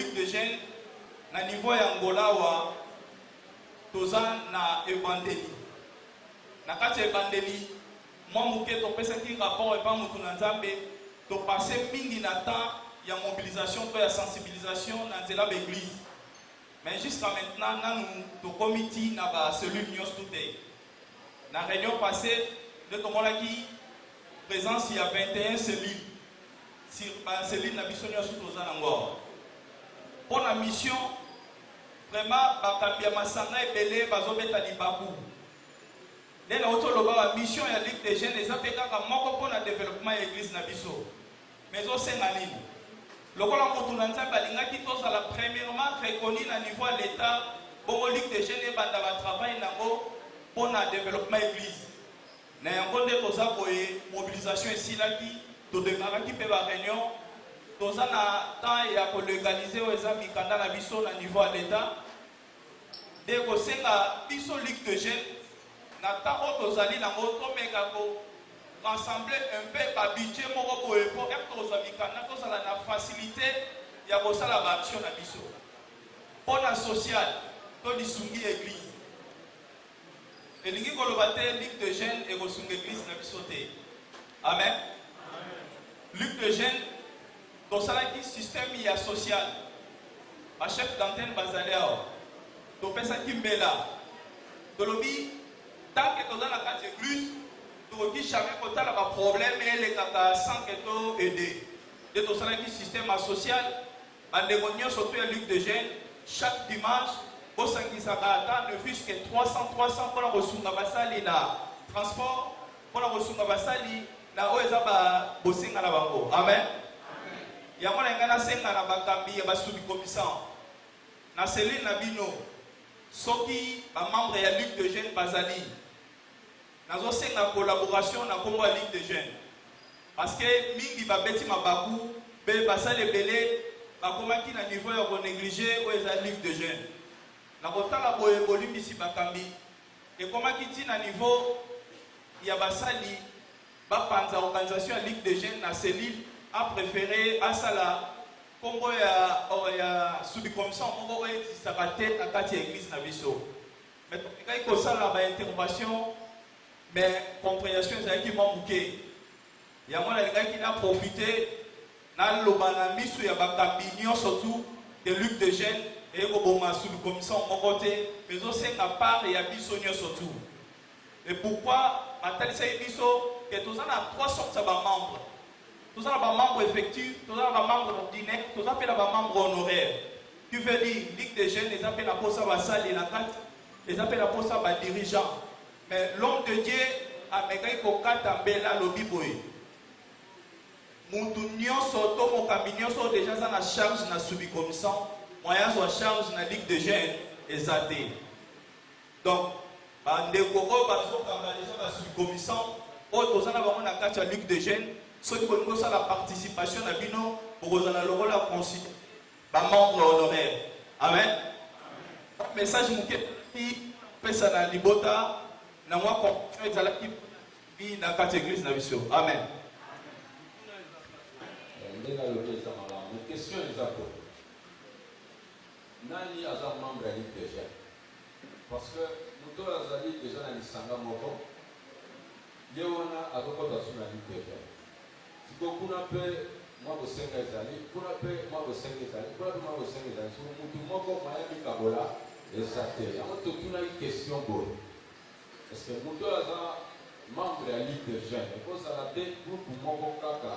Cube de gel na niveau ya Angola awa toza na ebandeli na kati ya ebandeli mwa moke topesaki rapport epa motu na nzambe topase mingi na temps ya mobilisation to ya sensibilisation na nzela baeglise mais jusqu'à maintenant nanu tokomi ti na bacellule nyonso tute na réunion passé nde tomonaki présence ya 21 cellule Sur ba cellules na biso nionso toza nango awa mpo na mission. Vraiment bakambi ya masanga ebele bazobeta libaku nde nauti oloba ba mission ya Ligue des jeunes eza mpe kaka moko mpo na developpement ya eglise na biso, mais osenga nini? lokola motu na nzambe alingaki tozala premièrement reconnu na niveau ya l'etat bongo ligue de jeune ebanda batravail nango mpo na développement église Na yango nde toza boye, mobilisation esilaki, todemaraki mpe ba reunions, toza na temps ya ko legaliser oyo eza mikanda na biso na niveau ya l'Etat, nde kosenga biso Ligue de jeunes na temps oyo tozali na yango tomeka ko rassembler un peu ba budget moko boye mpo ete tozwa mikanda tozala na facilite ya kosala ba action na biso mpo na sociale to lisungi ya eglise Elingi koloba te Luc de Gene ekosunga eglise na biso te. Amen. Luc de Gene tosalaki système ya social. Ba chef d'antenne bazali awa. Topesaki mbela. Tolobi tant que toza na kati eglise tokoki jamais kotala ba problème elekaka sans que to aider. Nde tosalaki système ya social Ba ndeko nioso surtout ya Ligue de Jeunes, chaque dimanche bo sangisaka ata ne fut-ce que 300, 300 pona ko sunga ba sali na transport, pona ko sunga ba sali na oyo eza ba bosenga na bango. Amen. Yango na ngai na senga na ba kambi ya ba sous-commisants na cellule na bino soki ba membres ya Ligue de Jeunes bazali Nazo senga collaboration na kombo ya ligue de jeunes parce que mingi ba beti mabaku be basali ebele ba komaki na niveau ya ko neglige oyo eza ligue de jeunes. Na ko tala boye bolimbisi bakambi ekomaki ti na niveau ya basali ba panza organisation ya ligue de jeunes na cellule a prefere asala kombo ya ya subicommission moko oyo existaka te na kati ya eglise na biso. Mais tolingaki kosala ba intervention mais comprehension ezalaki mwa moke, yango nalingaki na profite naloba na miso ya bakambi nyonso tu de lutte de jeune eye koboma sous commission moko te, mais ezosenga part ya biso nyonso tu. Et pourquoi batalisaki biso que toza na trois sortes ya ba membres Toza na ba membres effectifs, toza na ba membres ordinaires, toza mpe na ba membres honoraires. Qui veut dire Ligue des jeunes eza mpe na posa ba sali na kati, eza mpe na posa ba dirigeants. Mais l'homme de Dieu amekaki kokata mbela alobi boye, mutu nionso to mokambi nionso oyo dejà aza na charge na subikomissant, moyen azwa charge na Ligue des jeunes eza te. Donc ba ndeko oyo bazo kanga dejà ba circomissants oyo toza na bango na kati ya Luc de Jeunes soki bolingi bosala participation na bino bokozala lokola considere ba membres honoraires. Amen. Ba message moke ezalaki pesa na libota na mwa confusion ezalaki bi na kati ya eglise na biso. Amen. ndenge alobi eza malamu mais question eza po Nani aza membre ya Ligue des jeunes? Parce que moto oyo azali dejà na lisanga moko, ye wana azokota su na Ligue des jeunes. Sikoyo kuna mpe mwa bosenga ezali, kuna mpe mwa bosenga ezali, kuna mpe mwa bosenga ezali. Sikoyo motu moko mwaya mikabola eza te. Yango totunaki question boye, est-ce que moto oyo aza membre ya Ligue des jeunes, ekozala te groupe moko kaka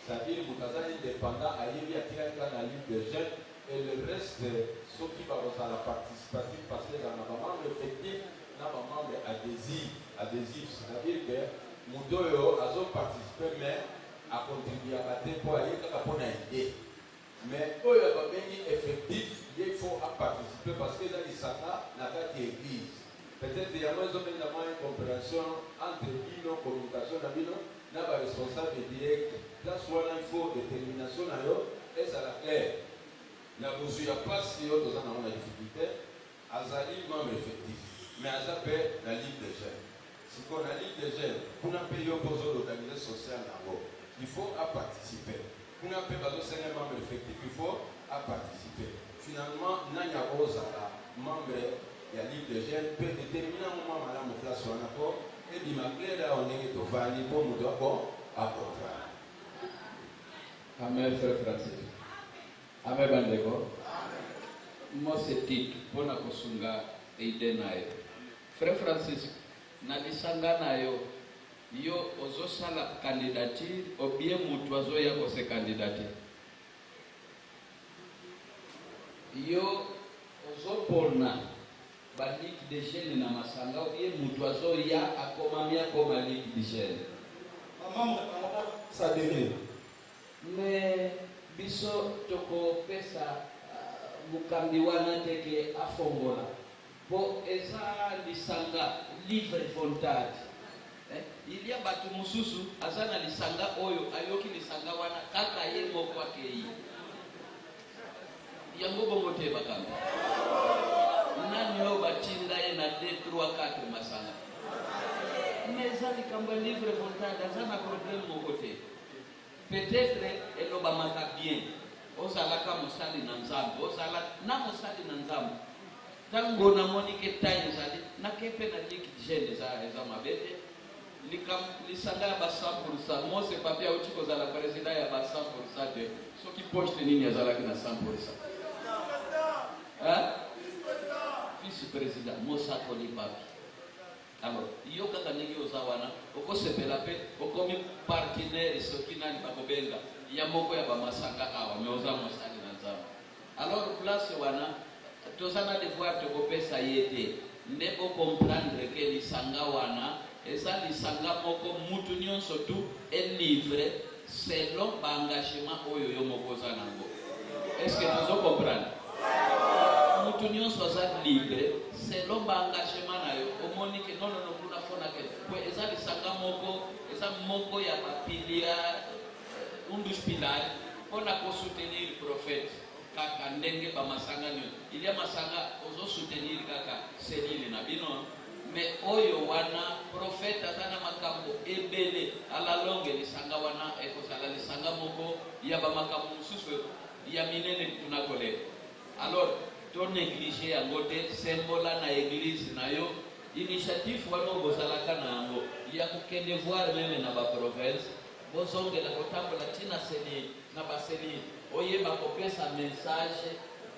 Zaïre mutu aza independant ayebi atikali kaka na lutte des jeunes et le reste soki bakozala participatif parce que ezala na ba membres effectifs na ba membres adhesifs, adhesifs c'est à dire que mutu oyo azo participer mais a contribuaka te po aye kaka pona idee. Mais oyo ba bengi effectif ye il faut a participer parce que eza lisanga na kati ya eglise peut etre yango ezo benda mwa incomprehension entre bino communication na bino na ba responsable direct place wana il faut determination na yo ezala claire na bozui ya place yo toza na ngo na difficulte Azali membre effectif mais aza pe na ligue des jeunes sikoyo na ligue des jeunes kuna pe yo pe ozo l'organiser social na ngo il faut a participer kuna pe bazo senga ye membre effectif il faut a participer finalement nani ako zala membre ya ligue des jeunes pe determiner yango mua malamu place wana po ebima claire awa ndenge tovandi po mutu ako a comprendre. Amen frère Francis. Amen bandeko. Mose Tito mpo na kosunga eide na yo. Frère Francisco, na lisanga na yo, yo ozosala candidature obie mutu azoya ko se candidater? Yo ozopona ba ligue de jeunes na masanga obie mutu azoya akomami akoma ligue de jeunes? Ba membres yango ba s'adherer. Mais biso toko pesa mokambi wana te ke afongola po eza lisanga livre voltade eh il ya batu mususu aza na lisanga oyo ayoki lisanga wana kaka ye moko akeyi yango bongo te bakambi nani oyo batinda ye na 2 3 4 masanga mais eza likambo ya livre voltade aza na problème moko te Peut-etre elobamaka bien ozalaka mosali na Nzambe, ozala na mosali na Nzambe. Tango namoni ke taille ezali, nake mpe na Ligue de Jeunes eza eza mabe te. Likam lisanga ya ba 100% Mose Papi auti kozala president ya ba 100% de soki poste nini azalaki na 100%. Hein? Vice president mosakoli Papi. Alors yo kaka ndenge oza wana oko sepela pe okomi partenaire soki nani bako benga ya moko ya ba masanga awa mais oza mosali na nzambe alors place wana toza na devoir toko pesa ye te nde bo comprendre ke lisanga wana eza lisanga moko mutu nionso tout est livre selon ba engagement oyo yo moko oza nango est ce que tozo comprendre mutu nyonso aza libre selon ba engagement na yo omoni ke nonono kuna fona ke po eza lisanga moko eza moko ya bapilia euh, undus pilari mpo na kosoutenir prophète kaka ndenge bamasanga nyo ilia masanga ozo soutenir kaka selile na bino Mais oyo wana prophète aza na makambo ebele à la longue lisanga wana ekozala lisanga moko ya ba makambo mosusu ya minene kutu na koleka alors to negliger yango te sembola na eglise na yo initiative wana oyo bozalaka na yango ya kokende voir meme na ba province bozongela kotambola ntina seni na baseni oyeba kopesa message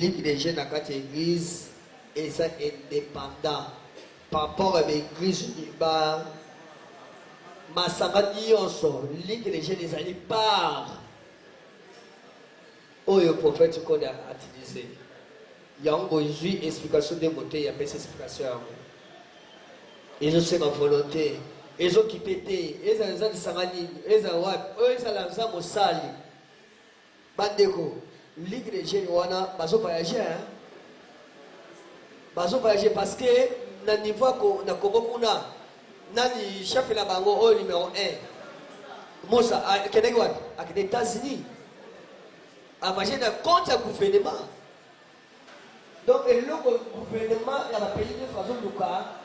Ligue des jeunes na kati ya eglise eza independant par rapport ya baeglise ba masanga nyonso ligue des jeunes ezali par oyo prophète kode atilise yango bozwi explication nde moteyi apesi explication yango ezosenga volonté ezokipe te ezala eza lisanga nini ezala wapi oyo ezala eza mosali Ba ndeko, ligue des jeunes wana bazo voyager hein. Bazo voyager parce que na niveau ko na Congo kuna nani chef na bango oyo numéro 1. Mosa akendeki wapi? Akende États-Unis. Avage na compte ya gouvernement. Donc eloko gouvernement ya ba pays de façon luka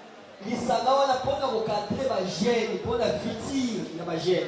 lisanga wana mpona kokadre ba jeunes mpona futur ya ba jeunes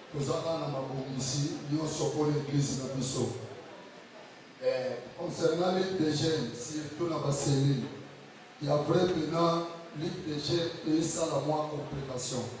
Toza bana mabongisi nionso pona eglise na biso. Eh, concernant ligue des jeunes, surtout na ba cellules, ya vrai pena ligue des jeunes eyisala mwa complication.